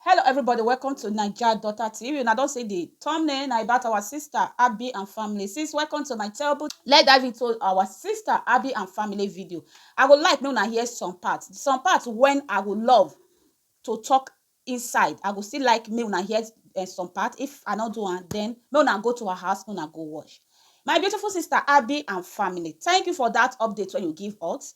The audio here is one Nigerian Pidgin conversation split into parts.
Hello everybody welcome to naija daughter tv una don see the thumbnail na about our sister Abby and family sis welcome to my table let's dive into our sister Abby and family video I go like make una hear some part some part when I go love to talk inside I go still like make una hear uh, some part if I no do am then make una go to our house make una go watch my beautiful sister Abby and family thank you for that update wey you give us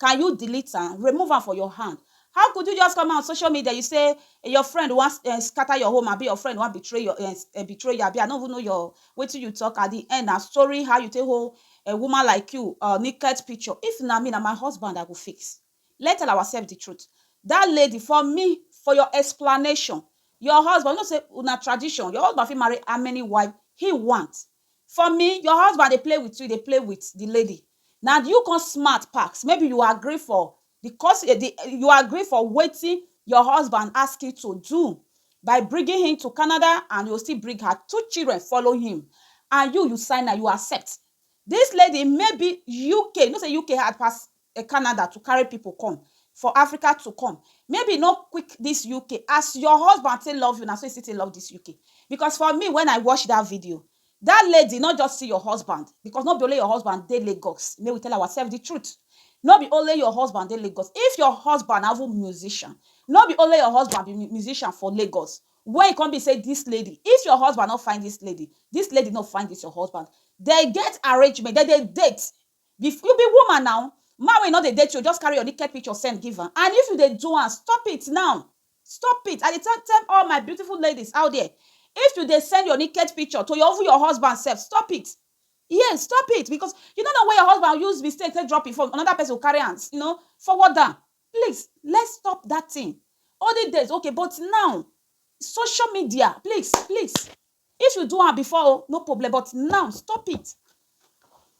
Can you delete am, remove am for your hand? How could you just come out social media you say your friend wan um scatter your home abi your friend wan betray your um um betray you abi I no even know your wetin you talk at the end na story how you take hold a woman like you um naked picture. If na me na my husband I go face. Let's tell ourselves the truth. Dat lady for me for your explanation your husband you know sey una tradition your husband fit marry how many wife he want For me, your husband dey play with you, you dey play with the lady. Na you come smart pass. Maybe you agree for the cos e the you agree for wetin your husband ask you to do by bringing him to Canada and you go still bring her two children follow him. And you, you sign am, you accept. Dis lady maybe UK, you know sey UK hard pass e Canada to carry people come for Africa to come maybe e no quick this UK as your husband take love you na so e still take love this UK because for me when I watch that video that lady no just see your husband because no be only your husband dey Lagos make we tell ourselves the truth no be only your husband dey Lagos if your husband na even musician no be only your husband be mu- musician for Lagos when e come be say this lady if your husband no find this lady this lady no find this your husband they get arrangement they dey date Be f you be woman now, man wey you no dey date you just carry your naked picture send give am and if you dey do am stop it now stop it I dey tell tell all my beautiful ladies out there if you dey send your naked picture to your even your husband sef stop it yes stop it because you no know where your husband use mistake take drop him phone another person go carry am you know forward am please let's stop that thing olden days okay but now social media please please. If you do am before o no problem but now stop it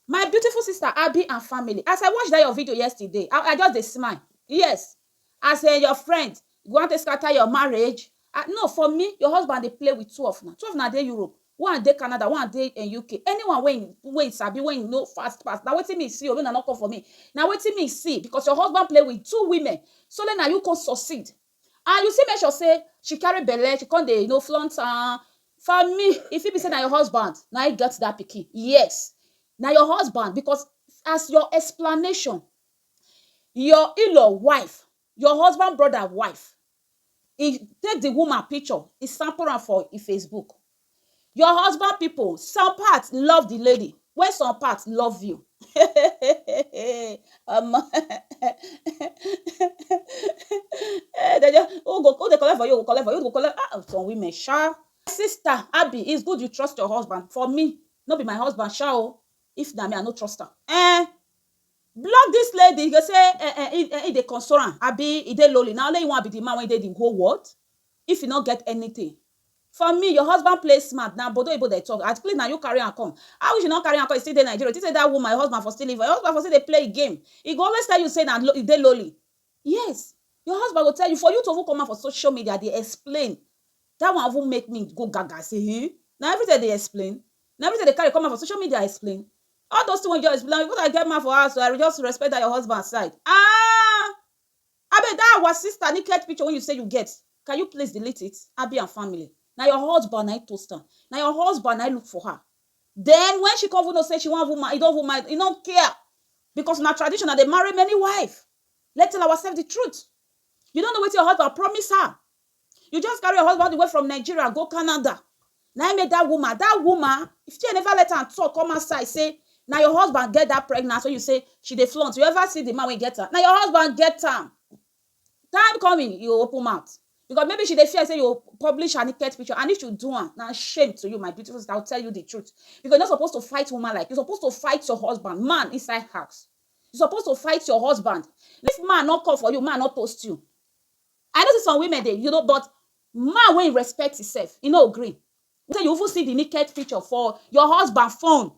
my beautiful sister Abi and family as I watch that your video yesterday I just dey smile yes as um your friend you wan take scatter your marriage I no for me your husband dey play with two of una two of una dey Europe one dey Canada one dey um UK anyone wey him wey him sabi wey him know fast fast na wetin me see o make una no come for me na wetin me see because your husband play with two women sole na you come succeed and you still make sure sey she carry belle, she come dey you know flaunt am, for me e fit be sey na your husband na im get dat pikin, yes na your husband because as your explanation, your in-law wife, your husband brother wife, e take di woman picture e sample am for im Facebook Your husband pipu, some part love the lady while some part love you um um um dem just who go who dey collect for you, who go collect for you, who go collect um some women sha. Sister Abi it's good you trust your husband for me no be my husband sha o if na me I no trust am um block this lady you go say um um im dey console am abi e dey lonely na only im wan be the man wey dey the whole world if e no get anything For me your husband play smart na bodo oyibo dem talk at please na you carry am come how if she no carry am come e still dey Nigeria you think say that woman your husband for still leave her your husband for still dey play him game e go always tell you say na e dey lowly yes your husband go tell you for you to even come out for social media dey explain that one even make me go gaga say eeh na everything I dey explain na everything I dey carry come out for social media explain all those things wey you just explain na because I get man for house oo I just respect that your husband side aah Abeg that our sister naked picture wey you say you get can you please delete it Abi and family na your husband na him toast am na your husband na him look for her then when she come even know say she wan even marry he don even mind he no care because na traditional dey marry many wife let's tell ourselves the truth you no know wetin your husband promise her You just carry your husband all the way from Nigeria go Canada. Na im make that woman, that woman, if she never let am talk come outside say na your husband get that pregnancy wey you say she dey flaunt. You ever see the man wey get am? Na your husband get am. Time coming, you go open mouth because maybe she dey fear say you go publish her naked picture and if you do am, na shame to you my beautiful sister. I will tell you the truth because you no suppose to fight woman like you suppose to fight your husband, man inside house. You suppose to fight your husband. If man no come for you, man no toast you. I know say some women dey you know but man wey e respect e self e no gree say you even see the naked picture for your husband phone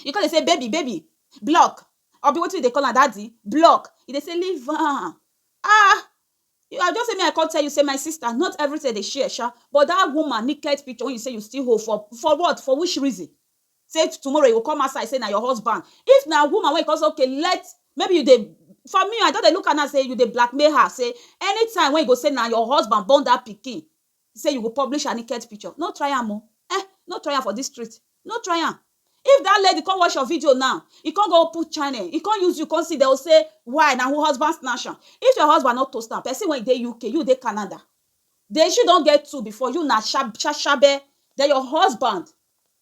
you come dey say baby baby block abi wetin you dey call am daddy block e dey say leave am ah you are just say make I come tell you say my sister not everything dem dey share sha but that woman naked picture wey you say you still hold for for what for which reason say tomorrow you go come outside say na your husband if na woman wey you come say okay let maybe you dey for me I don dey look am now say you dey blackmail her say anytime wey you go say na your husband born that pikin say you go publish her naked picture no try am o eh no try am for this street no try am if that lady come watch your video now e come go open channel e come use you come see dem go say why na who husband snatch am if your husband no toast am person wey dey UK you dey Canada the issue don get two before you na sha shabe then your husband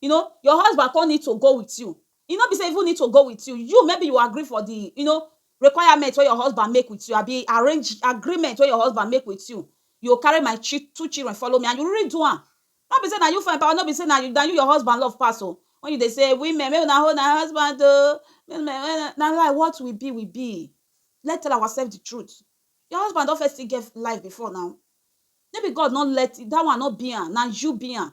you know your husband come need to go with you e no be say even need to go with you you maybe you agree for the you know requirement wey your husband make with you abi arrange agreement wey your husband make with you you go carry my chi two children follow me and you really do am no be say na you fine pass no be say na you your husband love pass oo when you dey say women make una hold una husband oo na lie what we be we be let's tell ourselves the truth your husband don firstly get life before now maybe God no let that one no be am na you be am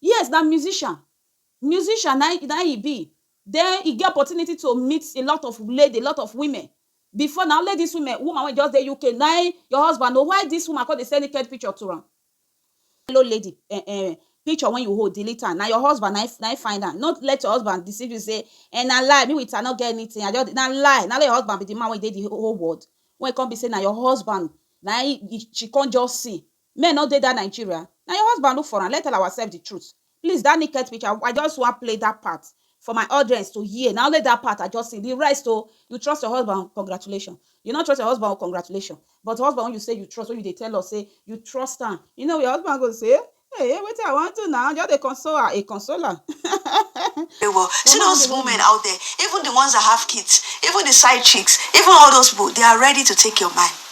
Yes na musician, musician na im na im e be then e get opportunity to meet a lot of lady, a lot of women before na only this women woman wey just dey UK na im your husband know why this woman come dey send naked picture to am hello lady um picture wey you hold delete am na your husband na im na im find am no let your husband deceive you say um na lie me with am no get anything I just dey na lie na only your husband be the man wey dey the whole world wey come be say na your husband na im she come just see Men no dey that Nigeria? Na your husband look for am, let's tell ourselves the truth. Please that naked picture, I just wan play that part for my audience to hear, na only that part I just sing, the rest o, you trust your husband, congratulation. You no trust your husband o, congratulation. But husband wey you say you trust, wey you dey tell us say you trust am, you know your husband go say, Hey, wetin I wan do na, I just dey console her, a consoler. Very well, see those women out there, even the ones that have kids, even the side chicks, even all those people, they are ready to take your man.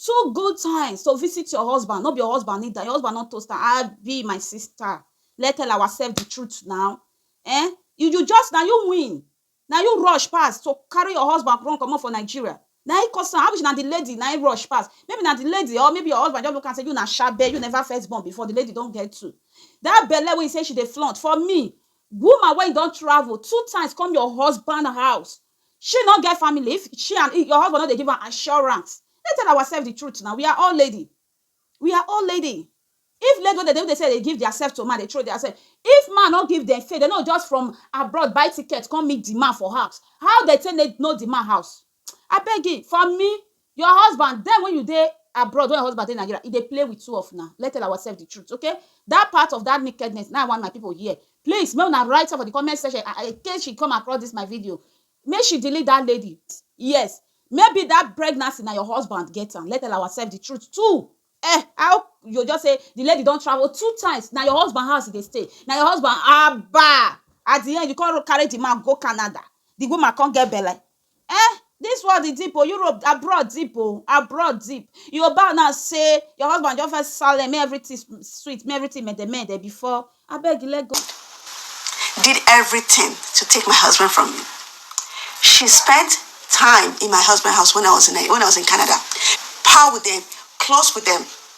Two good times to visit your husband, no be your husband need am, your husband don toast am, abi my sister let's tell ourselves the truth na um you you just na you win na you rush pass to carry your husband run comot for Nigeria na him cause am, abi na the lady na him rush pass, maybe na the lady or maybe your husband just look am say you na shabe, you never first born before, the lady don get two, that belle wey you say she dey flaunt for me, woman wey don travel two times come your husband house She no get family if she and your husband no dey give am assurance. Let's tell ourselves the truth now, we are all lady, we are all lady. If lady wey dey say dey give their self to man dey throw their self, if man no give dem faith, dem no just from abroad buy ticket come meet the man for house, how dem take know the man house? Abegi for me Your husband, then when you dey abroad, when your husband dey Nigeria, he dey play with two of una. Let's tell ourselves the truth, okay? That part of that nakedness, now I want my people here. Please, make una write am for the comment section. I, I, in case she come across this my video, make she delete that lady. Yes, maybe that pregnancy na your husband get am. Let's tell ourselves the truth too. Eh, how you just say the lady don travel two times? Na your husband house e dey stay. Na your husband, abba! At the end, you come carry the man go Canada. The woman come get belle. Eh this world e deep oh Europe abroad deep oh abroad deep you go bow now say your husband just first silent make everything sweet make everything mede mede before abeg let go. did everything to take my husband from me she spent time in my husband house when I was in when I was in Canada pal with them close with them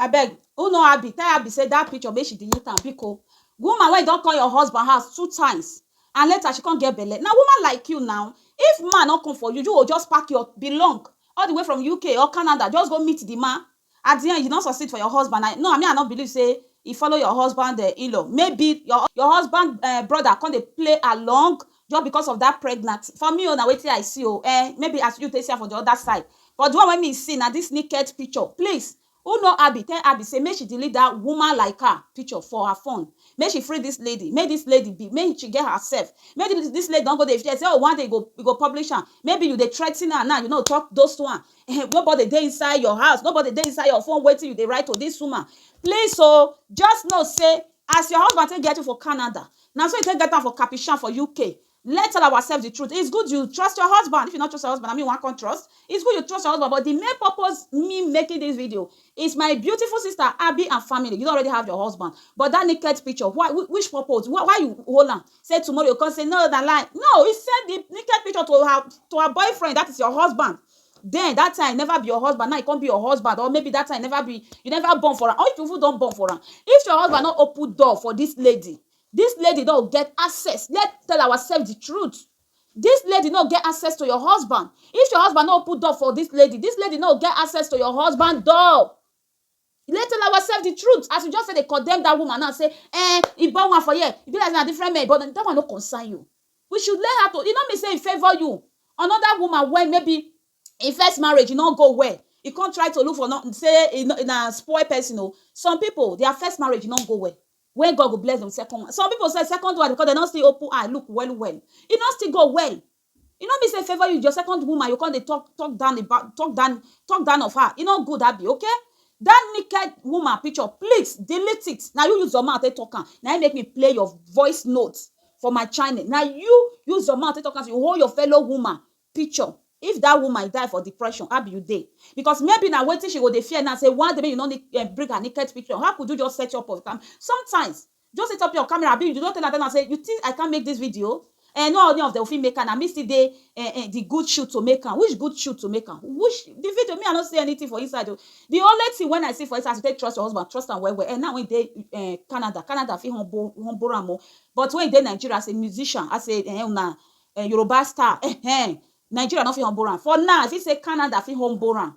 Abeg who know Abi tell Abi say that picture make she delete am biko woman wey don come your husband house two times and later she come get belle na woman like you now if man no come for you you go just pack your belong all the way from UK or Canada just go meet the man at the end you no succeed for your husband na no me I no believe say e follow your husband in-law maybe your your husband brother come dey play along just because of that pregnant for me o na wetin I see o eh maybe as you take see am for the other side but the one wey me see na this naked picture please who know Abby tell Abby say make she delete that woman like her picture for her phone make she free this lady make this lady be make she get herself make this lady don go dey fear say oh one day you go you go publish am maybe you dey threaten her now you no talk those one eh nobody dey inside your house nobody dey inside your phone wetin you dey write to this woman please o just know say As your husband take get u for Canada, na so e take get am for Kapishan for UK. Let tell ourselves the truth, it's good you trust your husband, if you no trust your husband na me u wan come trust? It's good you trust your husband but the main purpose me making this video is my beautiful sister Abi and family, you don already have your husband but that naked picture why which purpose why you hold am say tomorrow you go come say no na lie, no u send the naked picture to her to her boyfriend that is your husband then that time e never be your husband now e come be your husband or maybe that time e never be you never born for am or if you even don born for am if your husband no open door for this lady this lady no get access let's tell ourselves the truth this lady no get access to your husband if your husband no open door for this lady this lady no get access to your husband door You no tell ourself the truth as you just dey condemn that woman now say eh e born one for here e be like na different men but that one no concern you we should learn how to e no mean say e favour you another woman wey maybe e first marriage e no go well e come try to look for another say na spoil person oo some people their first marriage no go well when God go bless dem second one some people self second one because dem no still open eye look well well e no still go well E no mean say e favour you, your second woman, you come dey talk talk down about talk down talk down of her. E no good abi okay? That naked woman picture, please delete it. Na you use your mouth take talk am. Na im make me play your voice note for my channel. Na you use your mouth take talk am say you hold your fellow woman picture. If that woman die for depression, how be you dey? Because maybe na wetin she go dey fear now say one day make you no bring her naked picture. How could you just set up of am? Sometimes, Just set up your camera abi you don tell Adana say you think I can't make this video eh no any of them fit make am na me still dey eh eh the good shoot to make am which good shoot to make am which the video me I no see anything for inside o the only thing when I see for inside as you take trust your husband trust am well well eh now wey e dey eh Canada Canada fit humble humble am o but when e dey Nigeria as a musician as a eh una Yoruba star eh eh Nigeria no fit humble am for now I fit say Canada fit humble am